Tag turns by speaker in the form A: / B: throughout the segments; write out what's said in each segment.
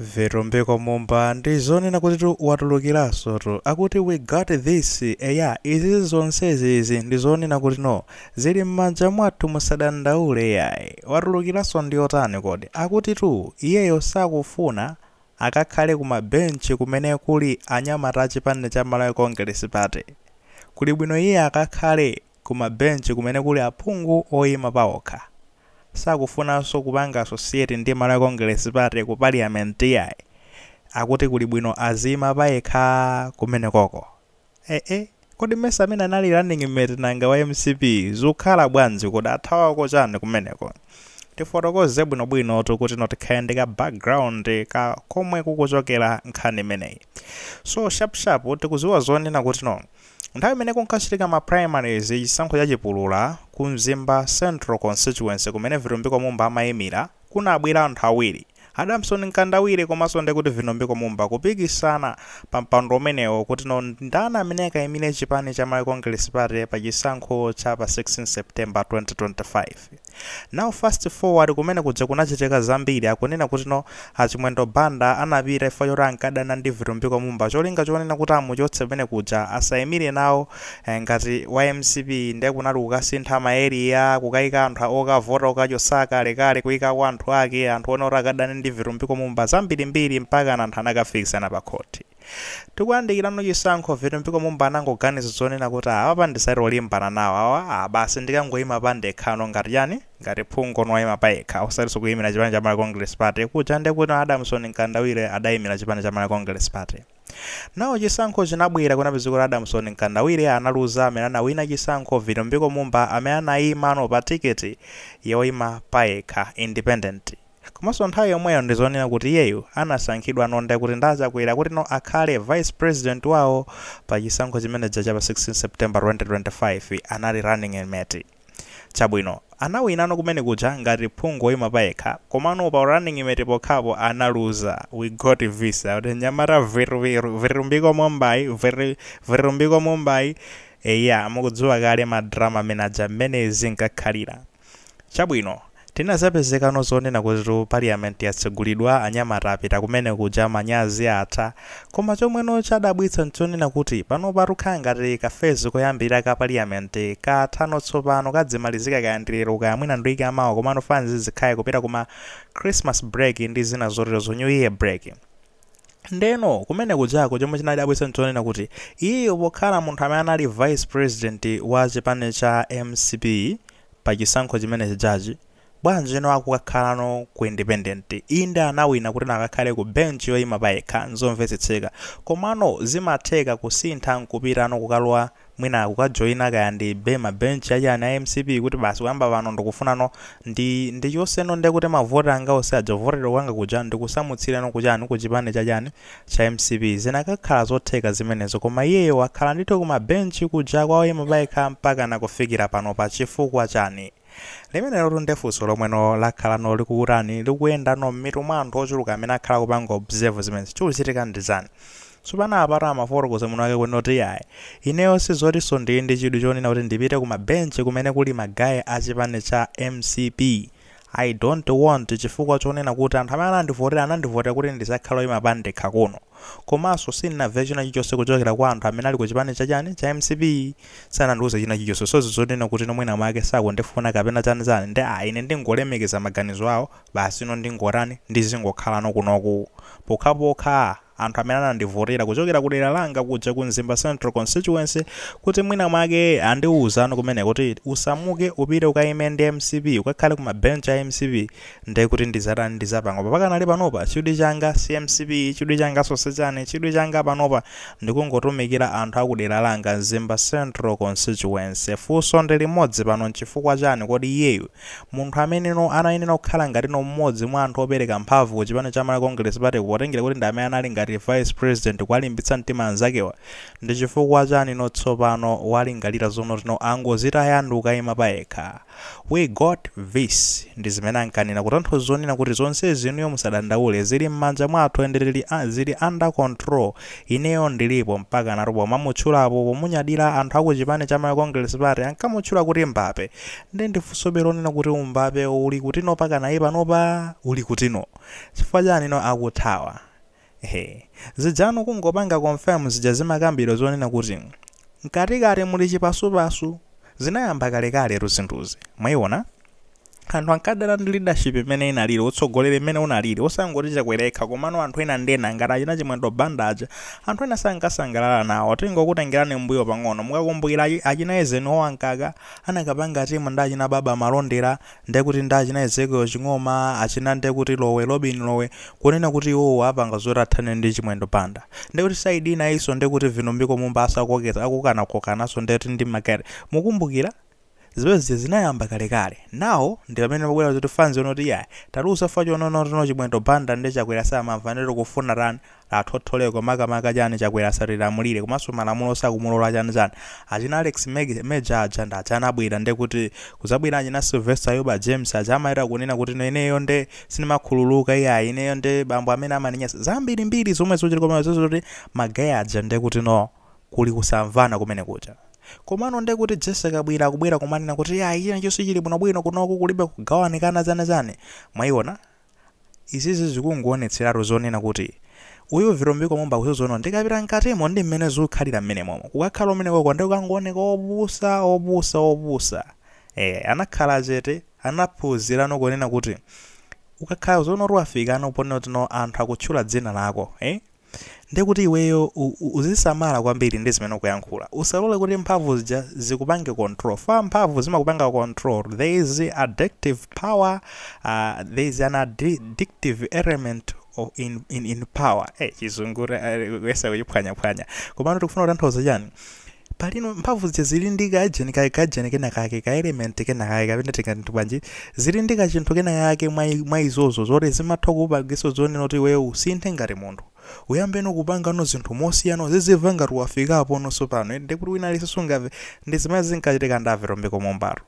A: Vitumbiko Mumba ndi zonena kutitu watulukiranso tu akuti we got this eya izizi zonsezi izi ndi zonena kuti no zili m'manja mwathu musadandaule yayi watulukiranso ndi wotani kodi akutitu iyeyo sakufuna akakhale ku ma bench kumene kuli anyamata a chipani cha Malawi Congress Party kuli bwino iye akakhale ku ma bench kumene kuli aphungu oyima paokha. Sakufunanso kupanga associate ndi Malawi Congress Party ku Parliament yayi. Akuti kuli bwino aziyima payekha kumenekoko. Eeh! Kodi mesa amene anali running mate nanga wa mcp zukhala bwanji kodi athawako chani kumeneko? Tifotokoze bwino bwinotu kutino tikhale ndi ka background ka komwe kukuchokera nkhani imeneyi. So sharp sharp tikuziwa zonena kutino. Nthawi imene kunkachitika ma primaries chisankho cha chipulula ku Mzimba Central Constituency kumene Vitumbiko Mumba amayimira, kunabwera anthu awiri, Adamson Mkandawire komanso ndekuti Vitumbiko Mumba kupikisana pa mpando umenewo kuti no ndani amene akayimire chipani cha Malawi Congress Party pa chisankho cha pa 16 September 2025. Now fast forward kumene kuja kunachitika zambiri akunena kuti no a Chimwendo Banda anapita chifukwa choti ankadana ndi Vitumbiko Mumba cholinga chonena kuti amuchotse kumene kuja asayimire nawo eh, ngati wa mcp ndiye kunali kukasintha ma area kukayika anthu a- okavota kukachotsa akalekale kuyikako anthu ake anthu ena oti akadane ndi Vitumbiko Mumba zambirimbiri mpaka anthu anakafikisana pa khoti Tikuyandikirano chisankho Vitumbiko Mumba anangoganiza zonena kuti ah apapa ndisati olimbana nawo awa ah basi ndikangoima pandekhano ngati chani ngati phunguno woima payekha osatinso kuimira chipani cha Malawi Congress Party kuja ndekuti Adamson Mkandawire adaimira chipani cha Malawi Congress Party now chisankho chinabwera kunapezeka kuti Adamson Mkandawire analuza amene anawina chisankho Vitumbiko Mumba amene anaimano pa ticket yoima payekha independent Komanso nthawi yomweyo ndi zonena kuti iyeyo anasankhidwano ndekuti ndi a Chakwera kuti no akhale vice president wawo pa chisankho chimene chija cha pa 16 September 2025 anali running mate. Chabwino, anawinano kumene kuja ngati phungu woyima payekha komano pa u running mate pokhapo analuza. We got this akuti mnyamata Vitumbiko Mumbayi Vitumbiko Mumbayi eya mukudziwa kale ma drama amene aja mmene zinkakhalira. Chabwino, tinazapezekano zonena kutitu parliament yatsegulidwa anyamata apita kumene kuja manyazi atha, koma chomweno chadabwitsa nchonena kuti panopa tukhala ngati ka phase koyambirira ka parliament kathano tsopano kadzimalizika kaya ndi lero kaya mwina ndi week ya mawa komano fanzi zikhale kupita kuma Christmas break ndi zina zoterozo New Year break. Ndeno kumene kujako chomwe chinadabwitsa nchonena kuti iyeyo pokhala munthu amene anali vice president wa chipani cha mcp pa chisankho chimene chijachi bwanjino akukakhalano ku independent inde anawina kuti anakakhala ku bench yoyima payekha nzomvetsetseka komano zimatheka kusintha nkupitano kukalowa mwina kukajoina kaya ndi be ma bench achani a mcp kuti basi kuyamba pano ndikufunano ndi ndichoseno nde kuti mavota anga onse aja avotera kwanga kuja ndikusamutsirano kuchani kuchipani chachani cha mcp zinakakhala zotheka zimenezo koma iyeyo akhala ndithu kuma bench kuja kwa oyima payekha mpakana kufikira panopa chifukwa chani Limenelotu nde funso lomwe no lakhalano likukutani, likukuyendano mmitu mwa anthu ochuluka amene akhala akupanga observe zimene chikuchitika ndi chani? Tsopano apatu amafotokoza mwini wake kunena kuti iyayi, ineyo sizotinso ndili ndi chidwi chonena kuti ndipite ku ma bench kumene kuli ma guy a chipani cha mcp. I don't want chifukwa chonena kuti anthu amene anandivotera, anandivotera kuti ndizakhale oyima pandekha kuno. komaso sinnaveyo china chilichose kuchokera kwa anthu amene ali ku chipani cha chani cha mcp sanandiuze china chilichose so zizonena kutino mwina mwake sakundifuna kapena chani chani nde ah ine ndikungolemekeza maganizo awo basi ino ndingotani ndizingokhalano kunoku pokhapokha anthu amene anandivotera kuchokera ku dera langa kuja ku mzimba central constituency kuti mwina mwake andiuzano kumene kuti usamuke upite ukayime ndi mcp ukakhale ku mabench a mcp nde kuti ndizatani ndizapanga pakanali panopa chidwi changa si mcp chidwi changa soso chani chidwi changa panopa ndikungotumikira anthu akudera langa mzimba central constituency fuso ndi limodzi pano nchifukwa chani kodi iyeyu munthu amene anayenera kukhala ngatino mmodzi mwa anthu opereka mphavu ku chipani cha malawi congress party potengera kuti ndi amene anali ngati vice president kuwalimbitsa mtima anzakewa ndichifukwa chanino tsopano walingalira zonotino angozitaya ndikukayima payekha We got this ndizimene ankanena kutanthauza zonena kuti zonsezi inuyo musadandaule zili mmanja mwathu ende zili a zili under control ineyo ndilipo mpakanatu pomamutchulapo pomunyadila anthu akuchipani cha Malawi Congress Party ankamutchula kuti Mbape nde ndifunsobe lonena kuti umbape ulikutino pakanali panopa ulikutino chifukwa chani no akuthawa Ehe. Zijano kungopanga confirm zija zimakambidwa zonena kuti mkatikati muli chipasupasu, zinayamba kalekaletu zinthuzi. Mwaiona? Anthu ankadana ndi leadership imene inalili, utsogoleri mmene unalili, osangoti Chakwera yekha komano anthu ena ndi ena ngati achina Chimwendo Banda aja, anthu ena sankasangalala nawo. Tingokutengerani mmbuyo pang'ono. Mukakumbukira achina Eisenhower Mkaka anakapanga team ndi achina Baba Malondera ndekuti nda achina Ezekiel Ching'oma achina ndekuti Lowe Robin Lowe kunena kuti iwowo apanga zoti athane ndi Chimwendo Banda ndekuti side inayinso ndekuti Vitumbiko Mumba akukokana kokananso ndekuti ndi Market mukumbukira zimene zija zinayamba kalekale now ndi pamene pabwera zoti funso yonoti iyayi tatiuza fachononotino Chimwendo Banda ndi Chakwera samamva nde tikufuna tani athotholeko makamaka chani chakwera asatilamulire komanso malamulo sakumulola chani chani achina alex Mej- major aja ndi aja anabwera nde kuti kuzabwera achina sylvester yuba james aja amayera kunena kuti no ineyo nde sindimakhululuka iyayi ineyo nde bambo amene amaninyasa zambirimbiri zomwe zochita koma zozo kuti magaye aja nde kuti no kuli kusamvana kumene kuja komano nde kuti jesse kabwira akubwera kumanena kuti iyayi chonse chili bwinobwino kunoku kulibe kugawanikana chani chani mwayiona Izizi zikungowonetseratu zonena kuti Uyu Vitumbiko Mumba akuziwa kuti ndikapita mkatimo ndi mmene zikukhalira mmenemomo. Ukakhala kumenekoko nde ukangowoneka opusa, opusa, opusa. Eya, anakhala chete, anaphunzirano kunena kuti ukakhala zoona kuti wafikano ponena kuti no anthu akutchula dzina lako, eh? Ndiye kuti iweyo u, u, uzisamala kwambiri ndi zimene ukuyankhula. Usalole kuti mphamvu zija zikupange control. Fa mphamvu zimakupanga control. There is addictive power, uh, there is an addi- addictive element of in, in, in power. Eh, chizungu eh, kuyesa kuchiphwanyaphwanya. Komano tikufuna kutanthauza chani? Palino, mphamvu zija zili ndi ka gene, ka, ka gene kena kake, ka element kena kake, kapena tingati bwanji, zili ndi kachinthu kena kake mwa, i- mwa izozo, zoti zimatha kukupangiso zonena kuti iweyo usinthe ngati munthu. Uyambeno kupangano zinthu mosiyana, uziziva ngati wafikapono sopano, eti ndekuti wina aliyense sungamve, ndi zimene zinkachitika ndi a Vitumbiko Mumbatu.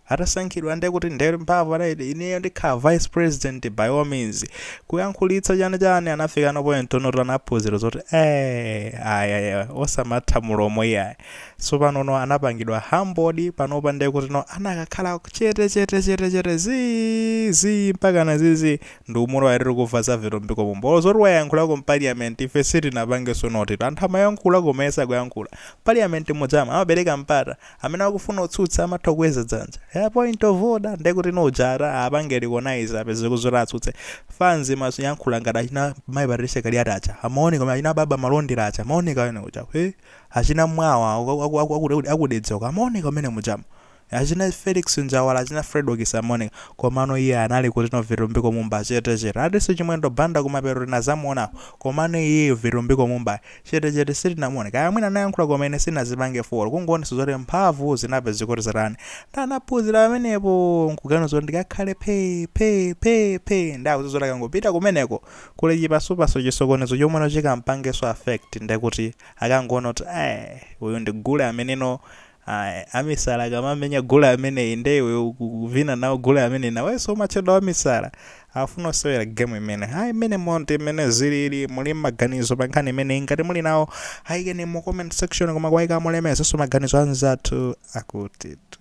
A: Atasankhidwa nde kuti nde mphamvu anati ineyo ndikhala vice president by all means. Kuyankhulitsa chani chani anafikano point yonoti anaphunzira zoti eeh ayi ayi ayi osamatha mlomo iyayi. Sopanono anapangidwa humbled panopa nde kutino anakakhala chete chete chete chete zii zii mpakana zizii ndi umulowa eti tikuva za vitumbiko mumba olo zoti wayankhulako mparliament ife sitinapangeso notice anthu amayankhula koma iye sakuyankhula. Mparliament mujamo amapereka mpata amene akufuna kutsutsa amatha kukweza dzanja ya point of order ndekuti nuja ata apange recognize apezeke zoti atsutse fans imayankhula ngati achina mayi patricia kaliati aja amaoneka koma achina baba malondera aja amaoneka amene uja eh, achina mwawa aku- aku- aku- aku- akudedza uko amaoneka amene mujamo achina felix njawala achina fredokis amaoneka komano iye anali kuti no vitumbiko mumba chetechete adanso chimwendo banda kumapeto tinazamuonapo komano iyeyo vitumbiko mumba chete chete sitinamuone kaya mwina anayankhula koma ine sinazipange follow kungoonesa zoti mphamvu zinapezeka kuti zatani nda anaphuzira pamenepo nkuganiza kuti ndikakhale phe phe phe phe nda akuziwa kuti akangopita kumeneko kuli chipasupasu chisokonezo chomweno chikampangeso affect ndekuti akangoona kuti eh uyu ndi gule ameneno Ayi, amisala akamamenya gule ameneyi nde iwe ukuvina nawo gule ameneyi nawenso umatchedwa wamisala. Afuna osewera game imene. Ayi mmenemo ndi mmene zilili, muli maganizo pa nkhani imeneyi ngati muli nawo ayikeni mu comment section koma kwayika mulemekezanso maganizo anzathu akutitu.